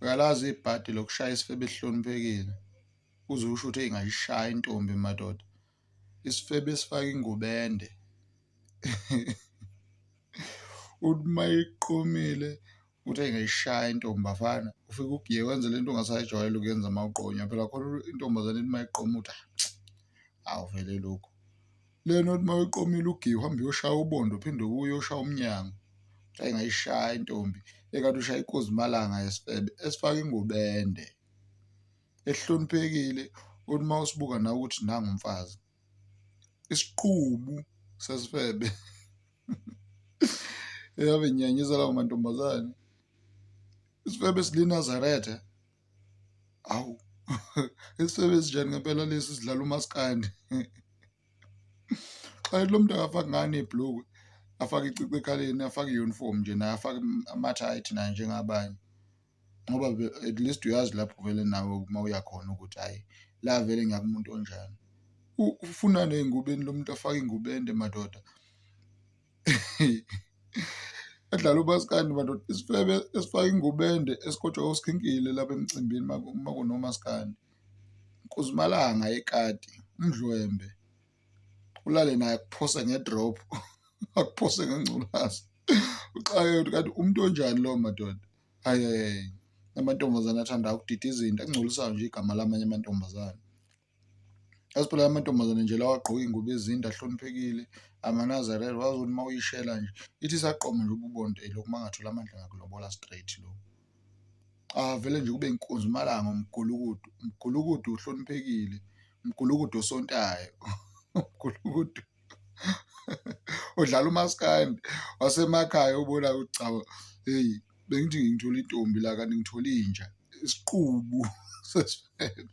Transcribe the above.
Uyalazi ibhadi lokushaya isifebe esihloniphekile uze usho ukuthi eyi ngayishaya intombi madoda. Isifebe esifake ingubo ende uthi uma eyiqomile uthi eyi ngayishaya intombi bafana. Ufike ugiye wenze le nto ongasayijwayele ukuyenza uma uqonywa phela khona intombazane ithi uma iqoma uthi hhayi awu vele lokhu. Lena othi mawuqomile ugiya uhambe uyoshaya ubondo uphinde ubuye uyoshaya umnyango ayi ngayishaya intombi ekade ushaya ikozimalanga yesifebe esifaka ingubende ehloniphekile uthi uma usibuka nawe ukuthi nangu umfazi isiqubu sesifebe eyabe nyanyisa lawo mantombazane isifebe silinazaretha awu isifebe esinjani ngempela lesi sidlala umaskandi xa lo muntu akafaki ngane ibhlukwe afake icici ekhaleni afake i-uniform nje naye afake ama-tight naye njengabanye ngoba at least uyazi lapho vele nawe uma uyakhona ukuthi hhayi la vele ngiyakumuntu onjani ufunani ey'ngubeni lo muntu afake iy'ngubende madoda. Yadlala umaskandi madoda isifebe esifaka ingubende esikotshwa osikhinkile lapha emcimbini uma kunomaskandi. Nkuzimalanga yekati umdlwembe ulale naye akuphose ngedrop akuphose ngengculazi uxake ukuthi kanti umuntu onjani lowo madoda ayi amantombazane athanda ukudida izinto engcolisayo nje igama lamanye amantombazane. Yazi phela la mantombazane nje lawa agqoke iy'ngubo ezinde ahloniphekile amanazarene wazi ukuthi uma uyishela nje ithi isaqoma nje ububonde lokhu uma ngathola amandla ngakulobola straight lo. Avele nje kube inkunzi umalanga umgulukudu, umgulukudu uhloniphekile, umgulukudu osontayo, umgulukudu odlala umaskandi wasemakhaya obona ukuthi cha hheyi bengithi ngithole intombi la kanti ngithole inja isiqubu sesfebe.